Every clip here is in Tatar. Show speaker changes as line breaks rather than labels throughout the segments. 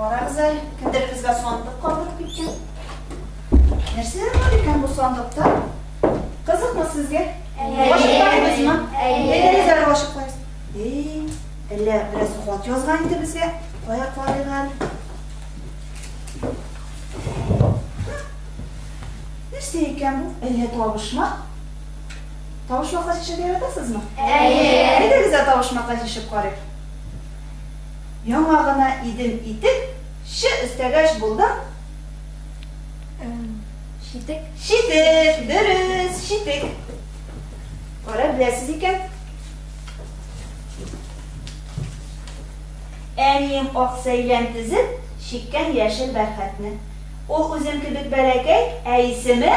Карагыз әле, кемдер безгә сандык калдырып киткән. Нәрсәләр бар икән бу сандыкта? Кызыкмы сезгә? Ачыклайбызмы? Әйдәгез әле ачыклайбыз. Эй, әллә бераз хат язган иде безгә. Кая карыйк әле? Нәрсә икән бу? Әллә табышмак? Тавышмакка чәчәк яратасызмы? Әйе! Әйдәгез дә тавышмакка чишеп карыйк. Яңа гына идем итек, чы өстәгәч булдым.
Читек. Читек,
дөрес, читек. Кара беләсез икән. Әнием ак сәйлән тезеп, чиккән яшел бәрхәтне. Ул үзем кебек бәләкәй, ә исеме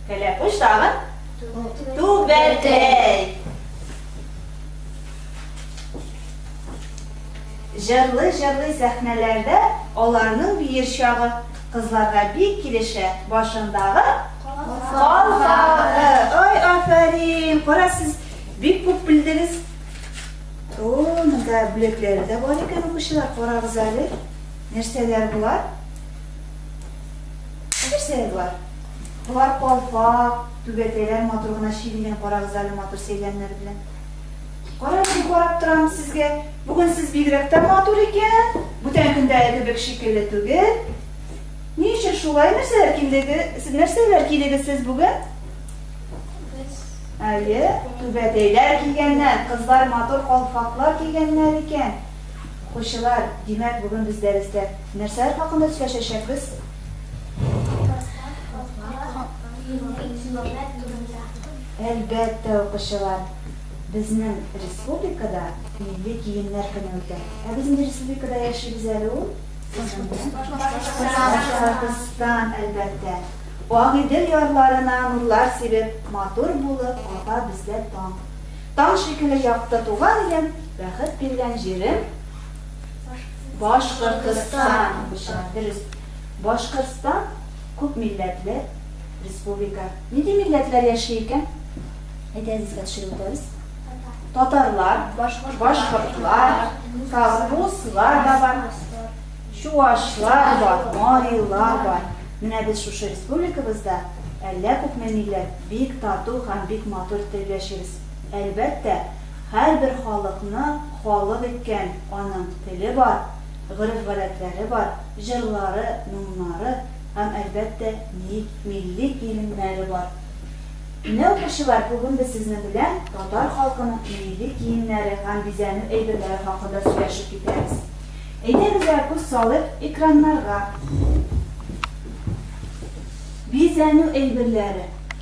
Кәләпүш тагын? Түбәтәй. Җырлый-җырлый сәхнәләрдә аларның биер чагы кызларга бик килешә. Башындагы калфагы. Ой, афәрин! Кара, сез бик күп белдегез. О, монда бүләкләре дә бар икән, укучылар, карагыз әле. Нәрсәләр болар? Нәрсә болар? Болар калфак, түбәтәйләр матур гына чигелгән, карагыз әле матур сәйләннәр белән. Карап, карап торам сезгә. Бүген сез бигрәк тә матур икән. Бүтән көндә кебек шикелле түгел. Ни өчен шулай нәрсәләр килеге? Сез нәрсәләр килегез сез бүген? Әйе, түбәтәйләр килгәннәр, кызлар матур калфаклар кигәннәр икән. Укучылар, димәк, бүген без дәрестә Нәрсәләр хакында сөйләшәчәкбез? Әлбәттә, укучылар, безнең республикада милли киемнәр көне үтә. Ә без нинди республикада яшибез әле ул? Башкортстан, әлбәттә. Агыйдел ярларына нурлар сибеп, матур булып ата бездә таң. Таң шикелле якты туган илем, бәхет биргән җирем. Башкортостан. Башкортостан. Дөрес. Башкортстан күп милләтле республика. Нинди милләтләр яши икән? Әйдәгез искә төшереп үтәбез. Татарлар, башкортлар, тагын руслар да бар, чувашлар бар, марилар бар. Менә без шушы республикабызда әллә күпме милләт, бик тату һәм бик матур итеп яшибез. Әлбәттә, Һәрбер халыкны халык иткән аның теле бар, гореф-гадәтләре бар, җырлары, моңнары һәм, әлбәттә, мил, милли киемнәре бар. Менә, укучылар, бүген без сезнең белән татар халкының милли киемнәре һәм бизәнү әйберләре хакында сөйләшеп китәбез. Әйдәгез-лә күз салыйк экраннарга. Бизәнү әйберләре.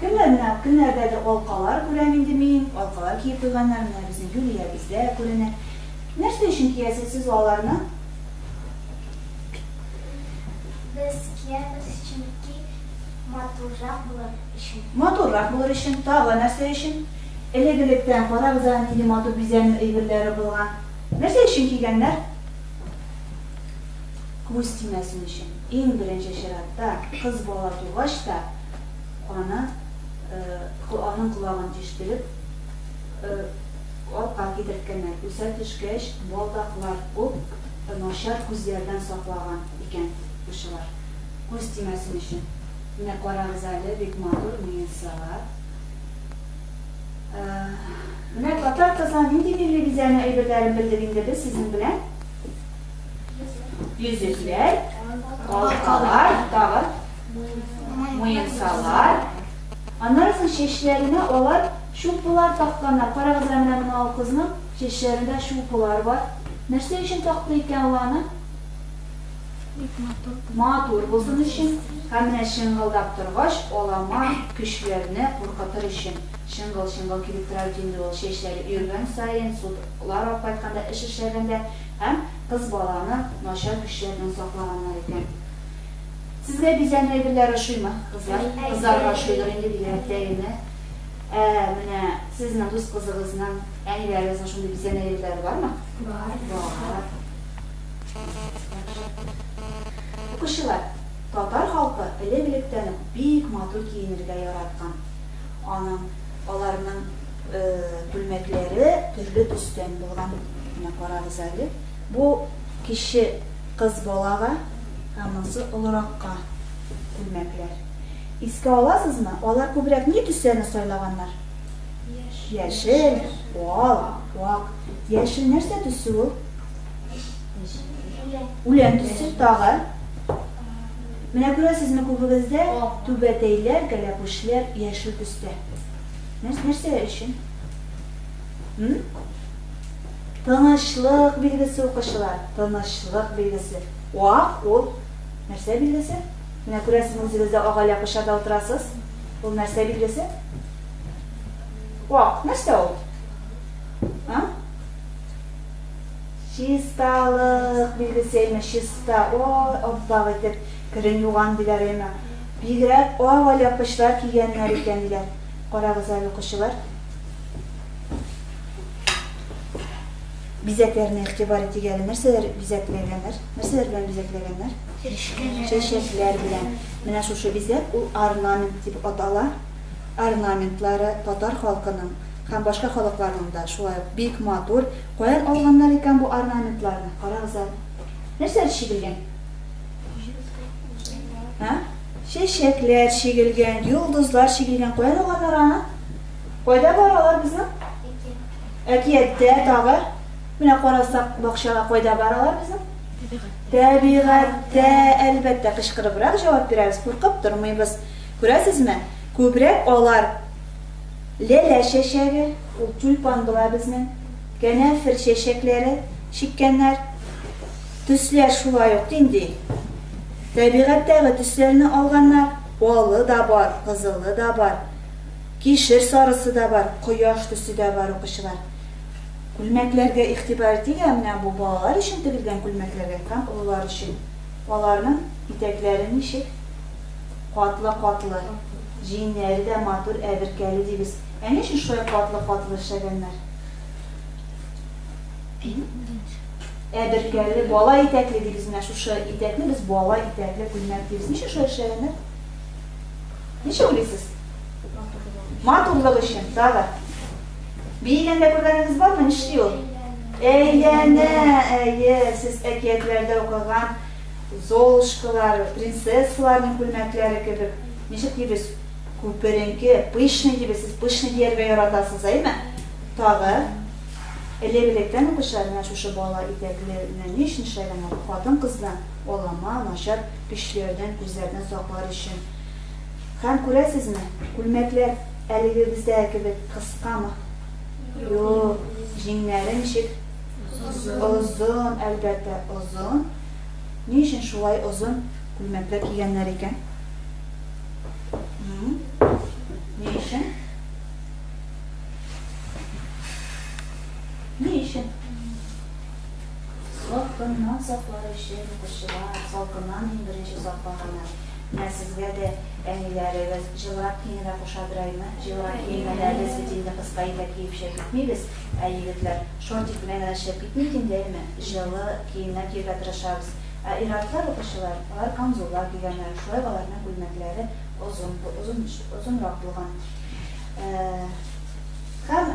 Кемнәр менә, кемнәрдәдер алкалар күрәм инде мин, алкалар киеп куйганнар, менә безнең Юлиябездә күренә. Нәрсә өчен киясез сез аларны?
Без киябез, чөнки матуррак булыр өчен. Матуррак булыр өчен.
Тагы нәрсә өчен? Элек-электән карагыз әле, нинди матур бизәнү әйберләре булган. Нәрсә өчен кигәннәр? күз тимәсен өчен, иң беренче чиратта, кыз бала тугач та, аны, аның колагын тиштереп, артка китерткәннәр, үсә төшкәч, балдаклар ук начар күзләрдән саклаган икән укучылар, күз тимәсен өчен. Менә карагыз әле, бик матур Муенсага. Менә татар кызына нинди милли бизәнү әйберләрен белдек инде без сезнең белән. Йөзекләр, алкалар, тагы муенсалар. Аннан соң чәчләренә алар чупылар такканнар. Карагыз әле менә мына кызның чәчләрендә чупылар бар. Нәрсә өчен такты икән ул аны? Матур булсын өчен. Һәм менә чыңгылдап торгач, алама көчләрне куркытыр өчен чыңгыл-чыңгыл килеп тора бит инде ул. Чәчләре өергән саен, судлар алып кайтканда, эш эшләгәндә Һәм кыз баланы начар көчләрдән саклаганнар икән. Сезгә бизәнү әйберләре ошыймы, кызлар? Кызларга ошыйдыр инде, бигрәк тә әйеме? Ә менә сезнең дус кызыгызның, әниләрегезнең шундый бизәнү әйберләре бармы? Бар. Бар. Укучылар, татар халкы элек-электән үк бик матур киенергә яраткан. Аның, аларның. Күлмәкләре төрле төстән булган. Менә карагыз әле. Бу кече кыз балага, ә монысы олыракка күлмәкләр. Искә аласызмы? Алар күбрәк ни төсләрне сайлаганнар? Яшел, ал, ак. Яшел нәрсә төсе ул? Үлән төсе тагы. Менә күрәсезме күбегездә түбәтәйләр, кәләпүшләр яшел төстә. Нәрс, нәрсә өчен? М? Тынычлык билгесе укучылар, тынычлык билгесе. Вак ул нәрсә билгесе? Менә күрәсез, үзегездә агайлап кышарда утырасыз. Ул нәрсә билгесе? Вак, нәрсә ул? А? Чисталык билгесе, әйме, чиста. О, аппак итеп, керен юган диләр, әйме. Бигрәк ак алъяпкычлар кигәннәр икән, диләр. Карагыз әле, укучылар. Бизәкләренә игътибар итик әле. Нәрсәләр бизәкләгәннәр? Нәрсәләр белән бизәкләгәннәр? Чәчәкләр белән. Менә шушы бизәк ул орнамент дип атала. Орнаментлары татар халкының һәм башка халыкларның да шулай ук бик матур. Каян алганнар икән бу орнаментларны? Карагыз әле. Нәрсәләр чигелгән? Ә? Чәчәкләр чигелгән, йолдызлар чигелгән. Кая алганнар аны? Кайда бар алар безнең? Әкияттә тагы. Менә карасак, бакчага кайда бар алар безнең? Тәбигатьтә, әлбәттә, кычкырыбрак җавап бирәбез, куркып тормыйбыз. Күрәсезме? Күбрәк алар ләлә чәчәге, ул тюльпан була безнең, кәнәфер чәчәкләре чиккәннәр. Төсләр шулай ук нинди? Тәбигатьтәге төсләрне алганнар, алы да бар, кызылы да бар, кишер сарысы да бар, кояш төсе дә бар, укучылар. Күлмәкләргә игътибар итик, ә менә бу балалар өчен тегелгән күлмәкләргә һәм олылар өчен. Аларның итәкләре ничек? Катлы-катлы. Җиңнәре дә матур, әберкәле дибез. Ә ни өчен шулай катлы-катлы эшләгәннәр? Ә бөркәле, бала итәкле дибез, менә шушы итәкне без бала итәкле күлмәк дибез. Ничек шулай эшләгәннәр? Ничек уйлыйсыз? Матурлык өчен, тагы. Биегәндә күргәнегез бармы? Нишли ул? Әйләнә, әйе, сез әкиятләрдә укыган Золушкалар, принцессаларның күлмәкләре кебек. Ничек дибез? Күперенке, пышный дибез. Сез пышный дияргә яратасыз, әйме? Тагы. Элек-электән үк кеше менә шушы бала итәкле генә ни өчен эшләгәннәр? Хатын-кызны алама, начар көчләрдән, күзләрдән саклар өчен. Һәм, күрәсезме, күлмәкләр әлегебездәге кебек кыскамы? Юк, җиңнәре ничек? Озын, әлбәттә, озын. Ни өчен шулай озын күлмәкләр кигәннәр икән? Ни өчен? Ни өчен? Салкыннан саклар өчен укучылар, салкыннан иң беренче саклаганы. Менә сезгә дә әниләрегез җылырак киенергә кушадыраймы? Җылырак киенгәндә без бит инде кыска итәк киеп шәп итмибез, ә егетләр шортик белән генә шәп итми икән, дәйме? Җылы киемнәр киергә тырышабыз. Ә ир-атлар, укучылар, алар камзуллар кигәннәр, шулай ук аларның күлмәкләре озын, озынрак булган. Һәм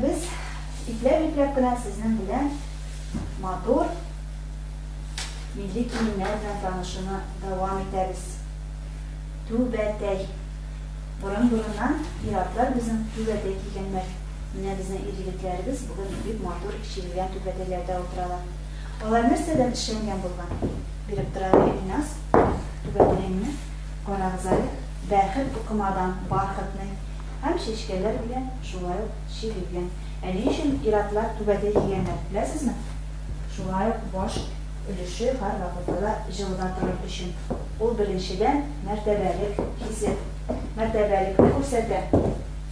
без ипләп-ипләп кенә сезнең белән матур милли киемнәр белән танышуны дәвам итәбез. Түбәтәй. Борын-борыннан пиратлар безнең түбәтәй кигәннәр. Менә безнең ир-егетләребез бүген бик матур чигелгән түбәтәйләрдә утыралар. Алар нәрсәдән эшләнгән булган? Биреп тора әле Илназ. Түбәтәеңне карагыз әле. Бәхет тукымадан, бархатный, һәм чәчкәләр белән, шулай ук чигү белән. Ә ни өчен ир-атлар түбәтәй кигәннәр, беләсезме? Шулай ук баш өлеше һәрвакытта да җылыда торыр өчен. Ул, беренчедән, мәртәбәлек хисе, мәртәбәлекне күрсәтә.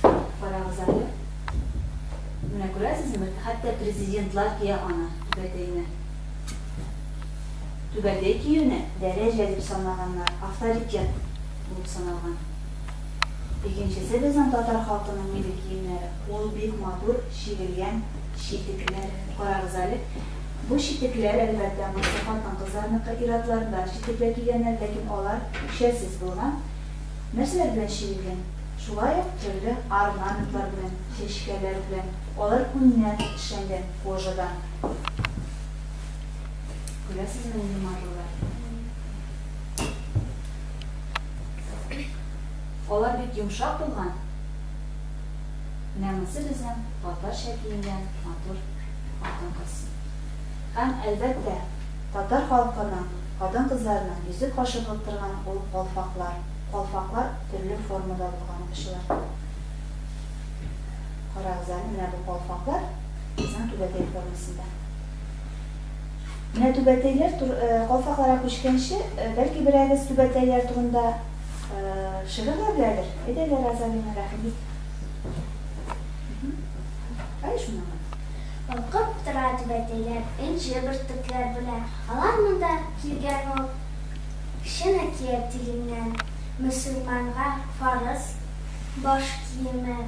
Карагыз әле. Менә күрәсезме, хәтта президентлар кия аны, түбәтәйне. Түбәдәй киюне дәрәҗә дип санаганнар, авторитет булып саналган. Икенчесе безнең татар халкының милли киемнәре. Ул бик матур, чигелгән читекләр. Карагыз әле. Бу читекләр, әлбәттә, монысы хатын-кызларныкы, ир-атлар да читекләр кигәннәр, ләкин алар шәлсез булган. Нәрсәләр белән чигелгән? Шулай ук төрле орнаментлар белән, чәчкәләр белән. Алар күннән эшләнгән, кожадан. Күрәсезме инде марлылар? Алар бик йомшак булган. Менә монсы безнең татарча киенгән матур хатын-кыз. Һәм, әлбәттә, татар халкының хатын-кызларының йөзе кашыгып торган ул калфаклар. Калфаклар төрле формада булган очылардан. Карагыз әле, менә бу калфаклар. Казан Түбәтәй формасында. Менә Түбәтәйләр тур, э, калфакларга күчкәнче, э, бәлки берәгез Түбәтәйләр турында э, шигырьләр беләдер? Әйдәгез, Розалина Рәхимбик. Әй шуны. Балкып
тора Түбәтәйләр, энҗе бөртекләр белән. Алар монда килгән ул чын әкият тиленнән. Мөселманга фарыз баш киеме.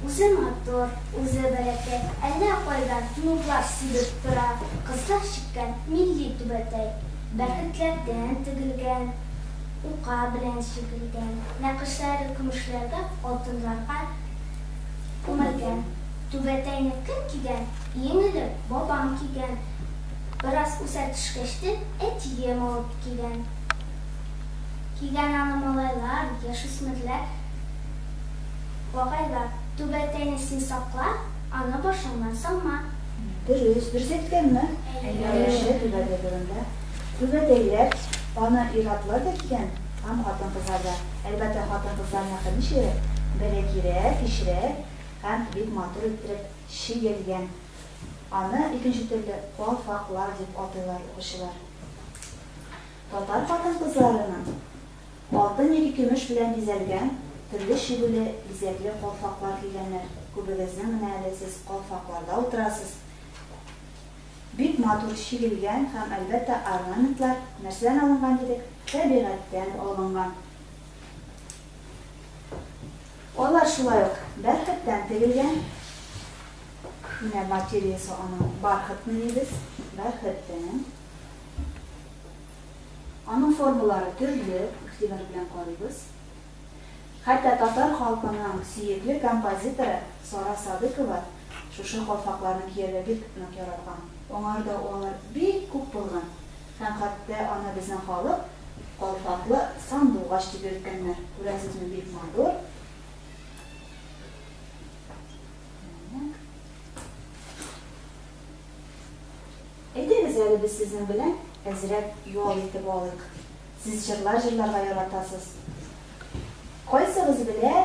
Үзе матур, үзе бәләкәй, әллә кайдан нурлар сибеп тора, кызлар чиккән милли түбәтәй. Бәрхетләрдән тегелгән, ука белән чигелгән, нәкышләре көмешләргә, алтыннарга күмелгән. Түбәтәйне кем кигән? Иң элек бабам кигән. Бераз үсә төшкәч тә, әтием алып кигән. Кигән аны малайлар, яшүсмерләр. Агайла, түбәтәйне син сакла, аны башыңнан салма. Дөрес, дөрес
әйткәнме? Әйе. Түбәтәй турында. Түбәтәйләр, аны ир-атлар да кигән һәм хатын-кызлар да. Әлбәттә, хатын-кызларныкы ничегрәк? Бәләкирәк, кечерәк һәм бик матур иттереп чигелгән. Аны икенче төрле калфаклар дип атыйлар укучылар. Татар хатын-кызларының Алтын яки көмеш белән бизәлгән, төрле чигүле, бизәкле калфаклар кигәннәр. Күбегезнең менә әле сез калфакларда утырасыз. Бик матур чигелгән һәм, әлбәттә, орнаментлар нәрсәдән алынган дидек? Тәбигатьтән алынган. Алар шулай ук бәрхеттән тегелгән. Менә материясе аның бархыт мыни без, бәрхеттән. Аның формалары төрле, игътибар белән карыйбыз. Хәтта татар халкының сөекле композиторы Сара Садыкова шушы калфакларны кияргә бик нык яраткан. Аңарда алар бик күп булган һәм хәтта аны безнең халык калфаклы сандугач дип йөрткәннәр. Күрәсезме, бик матур. Әйдәгез әле без сезнең белән әзрәк ял итеп алыйк. Сез җырлар җырларга яратасыз. Кайсыгыз белә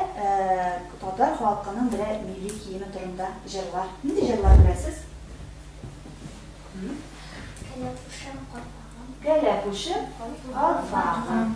татар халкының берәр милли киеме турында җырлар? Нинди җырлар беләсез? Кәләпүшем, калфагым. Кәләпүшем, калфагым.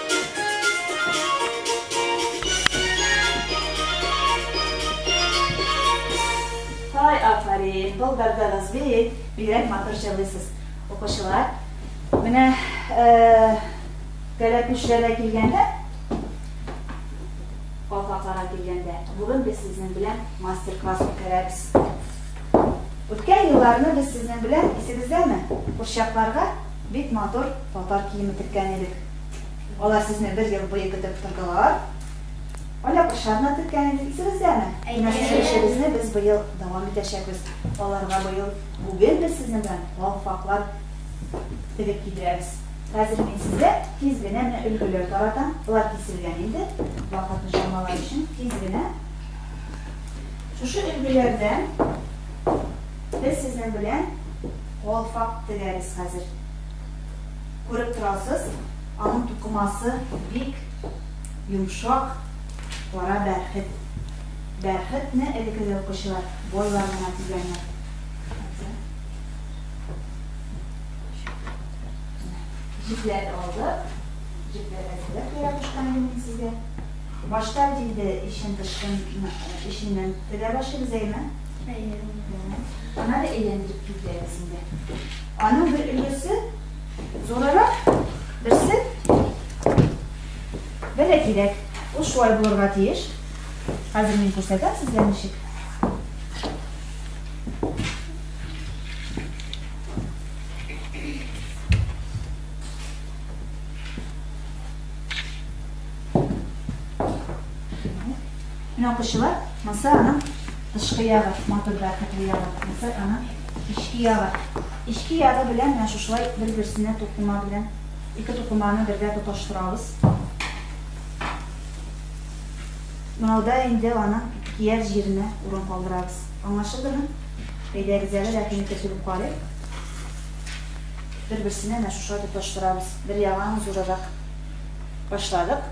Һай, афәрин, былбырдыгыз бит, бигрәк матур җырлыйсыз. Укучылар, менә кәләпүшләргә килгәндә, калфакларга килгәндә, бүген без сезнең белән мастер-класс үткәрәбез. Үткән елларны без сезнең белән, исегездәме, курчакларга бик матур татар киеме теккән идек. Алар сезне бер ел буе көтеп тордылар. Ала кышларына көткән иде, исегездәме? Менә сезнең эшегезне без быел дәвам итәчәкбез. Аларга быел бүген без сезнең белән калфаклар тегеп кидерәбез. Хәзер мин сезгә тиз генә менә өлгеләр таратам. Болар киселгән инде. Вакытны чамалар өчен тиз генә. Шушы өлгеләрдән без сезнең белән калфак тегәбез хәзер. Күреп торасыз, аның тукымасы бик йомшак, кара бәрхет. Бәрхетне элекеге укучылар, байлар гына тигәннәр. Җепләр алды. Җепләр әзерләп куя башкан идем мин сезгә. Башта инде ишен тышын ишеннән тегә башлыйбыз, әйеме? Әйе. Ана да әйләндереп китәбез инде. Аның бер өлеше зурырак, берсе бәләкирәк. Ул шулай булырга тиеш. Хәзер мин күрсәтәм сезгә ничек. Менә укучылар, монсы аның тышкы ягы, матур бәрхетле ягы, монсы аның Эчке ягы. Эчке ягы белән менә шушылай бер-берсенә тукыма белән ике тукыманы бергә тоташтырабыз. Монауда инде аның кияр җиренә урын калдырабыз. Аңлашылдымы? Әйдәгез әле рәхиме төзелеп карыйк. Бер-берсенә менә шушылай тоташтырабыз. Бер ягын зурырак башладык.